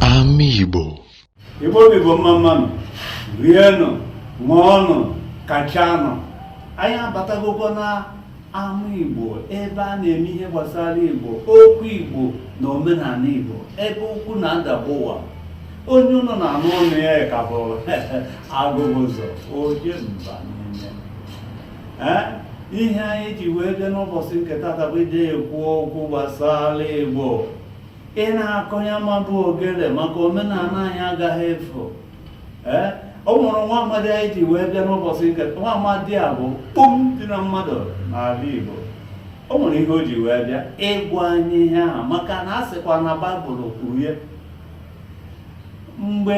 Ama Igbo Igbo bụ Igbo mma mmanụ rienụ ṅụọnụ kachanụ anyị abatagokwa na ama Igbo ebe a na-eme ihe gbasara Igbo okwu Igbo na omenala Igbo ebe okwu na-adagbu ụwa onye ụnụ na-anụ ọnụ ya ka bụ Agụbụzọ oje mba niile ihe anyị ji wee bịa n'ụbọchị nke tata bụ ije ekwu okwu gbasara igbo ị na-akọ ya ma bụ ogele maka omenala anyị agaghị efu ee o nwere nwa amadi anyị ji wee bịa n'ụbọchị nke nwa amadi a bụ kpum dị na mmadụ n'ala igbo o nwere ihe o ji wee bịa ịgwa anyị ihe ahụ maka na a sịkwa na baịbụl kwuru ya mgbe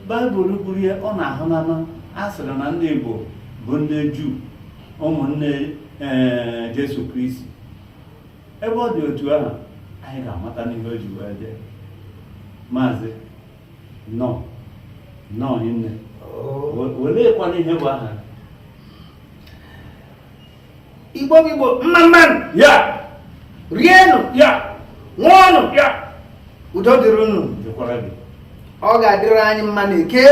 baịbụl kwuru ya ọ na-ahụ n'ama a sịrị na ndị igbo bụ ndị juu ụmụnne ee jesu kristi ebe ọ dị otu ahụ anyị ga-amata n'ihe o ji wee bịa maazị nnọọ nnọọ nne oleekwanụ ihe bụ aha igbo bụ igbo mma mmanụ ya rienụ ya ṅụọnụ ya udo dịrị unu dịkwara gị ọ ga-adịrị anyị mma n'eke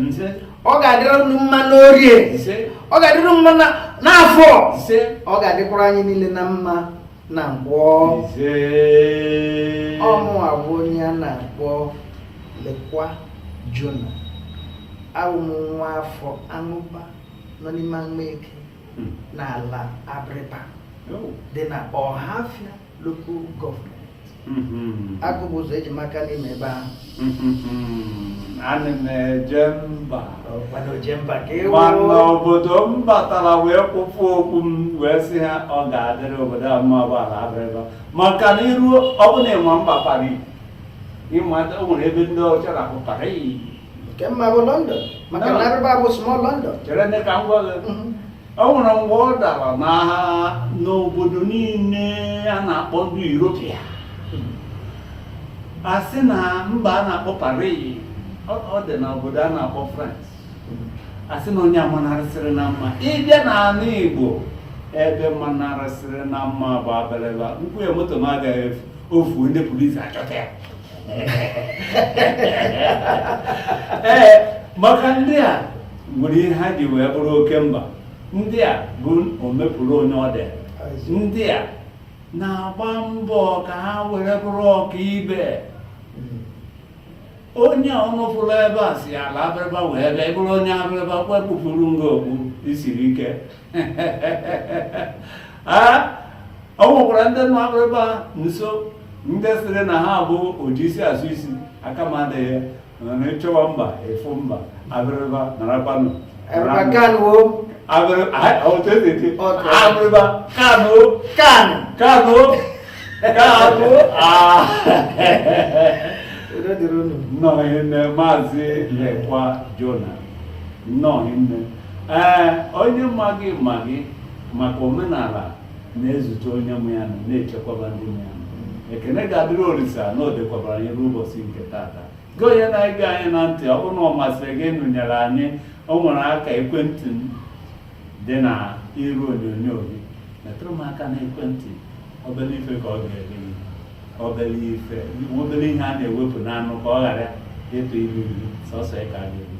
ise ọ ga-adịrị unu mma n'orie ise ọ ga-adịrị unu mma na- n'afọ ise ọ ga-adịkwara anyị niile na mma na nkwọ ise ọ mụwa bụ onye a na-akpọ lekwa jona abụ m nwa afọ amụba nọ n'ime amaeke hmm. n'ala Abịrịba oh. dị na Ọhafịa lokal gọọmenti hmm. Agụbụzọ eji maka n'ime ebe ahụ hmm. ana m eje mba mana obodo m batara wee kpupụ okpu m wee sị ha ọ ga-adịrị obodo a mma bụ ala Abịrịba maka na iruo ọ bụla ịma mba Pari ịma o nwere ebe ndị ọcha na-akpọ Pari nke m ma bụ london maka na Abịrịba bụ small london chere ndị ka m gwa gị Mhm. o nwere mgbe ọ dara n'agha n'obodo niile a na-akpọ ndị Europia a sị na mba a na-akpọ Paris ọ ọ dị na obodo a na-akpọ France a sị na onye a manarịsịrị na mma ịbịa n'ala Igbo ebe manarịsịrị na mma bụ Abịrịba m kwuo ya moto m agaghị efu o fuo ndị polisi achọta ya ee maka ndị a nwere ihe ha ji wee bụrụ oke mba ndị a bụ omepụrụ onye ọ dị ndị a na-agba mbọ ka ha were bụrụ ọka ibe onye unu fụrụ ebe a si ala abịrịba wee bịa ị bụrụ onye abịrịba ekpupụrụ m gị okpu i siri ike ọ nwekwara ndị nọ abịrịba nso ndị sịrị na ha bụ oji isi asụ isi aka m adịghị na ị chọwa mba ị fụ mba abịrịba narakwanụ abịrịba kanụ kanụ kanụ kanụ nnọọ nne maazị lekwa jona nnọọ nne ee onye ma gị ma gị maka omenala na-ezute onye mụ ya nọ na-echekwaba ndị mụ ya nọ ekene ga-adịrị olisa na o dekwabara anyị ruo ụbọchị nke tata gị onye na-ege anyị na ntị ọ bụrụ na ọ masịrị gị nọnyere anyị o nwere akara ekwentị m dị na iru onyonyo gị metụrụ m aka na ekwentị obere ife ka ọ ga-eri gị obere ife obere ihe a na-ewepụ n'anụ ka ọ ghara ịtụ ilu ilu sọsọ ya ka ga-eri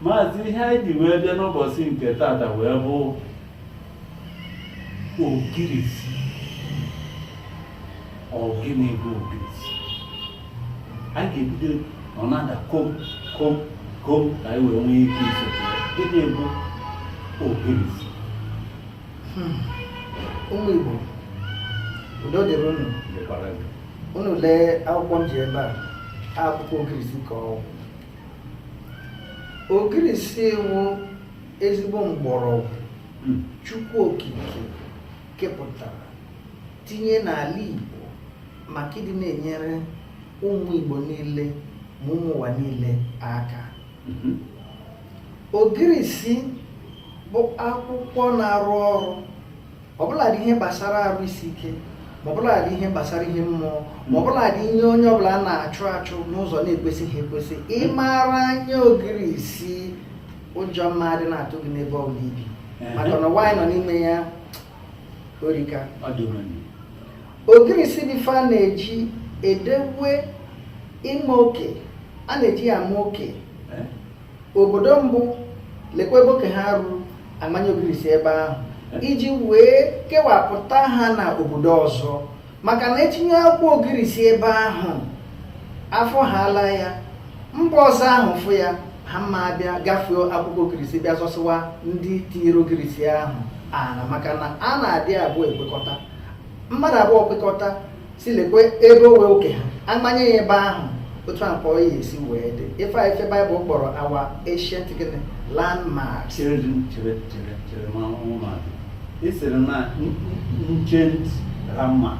maazị ihe anyị ji wee bịa n'ụbọchị nke tata wee bụ ogirisi ọ gịnị bụ ogirisi a ga-ebido ọ na-ada kom kom kom ka anyị wee nwee ike iso gịnị bụ ogirisi hmm. ụmụ Igbo udo dịrị unu unu lee akwụkwọ m ji ebe a akwụkwọ ogirisi ka ọ wụ Ogirisi wụ ezigbo mgbọrọgwụ hmm. Chukwu Okike kepụtara tinye n'ala Igbo maka ịdị na-enyere ụmụ Igbo niile ma ụmụ ụwa niile aka mhm. ogirisi bụ akwụkwọ na-arụ ọrụ ọbụladị ihe gbasara arụ isi ike ma ọbụladị ihe gbasara ihe mmụọ ma ọbụladị ihe onye ọbụla a na-achụ achụ n'ụzọ na-ekwesịghị ekwesị ị mara anya ogirisi ụjọ mma adị na-atụ gị n'ebe ọ bụla i bi maka na nwaanyị nọ n'ime ya erika ogirisi bụ ife a na-eji edewe ịma oke a na-eji ya ama oke obodo mbụ lekwa ebe oke ha ruru a manye ogirisi ebe ahụ iji wee kewapụta ha na obodo ọzọ maka na e tinye akwụkwọ ogirisi ebe ahụ afọ ha ala ya mba ọzọ ahụ fụ ya ha mma abịa gafee akwụkwọ ogirisi bịa zọsịwa ndị tinyere ogirisi ahụ ana maka na a na-adị abụọ ekwekọta mmadụ abụọ kwekọta sị lekwa ebe ọ wụ oke ha amanye ya ebe ahụ otu a ka ọ ya esi wee dị ife a ife baịbụl kpọrọ our ancient gịnị landmark cheredị chere chere chere ma ụmụ mmadụ ị sịrị na ancient landmark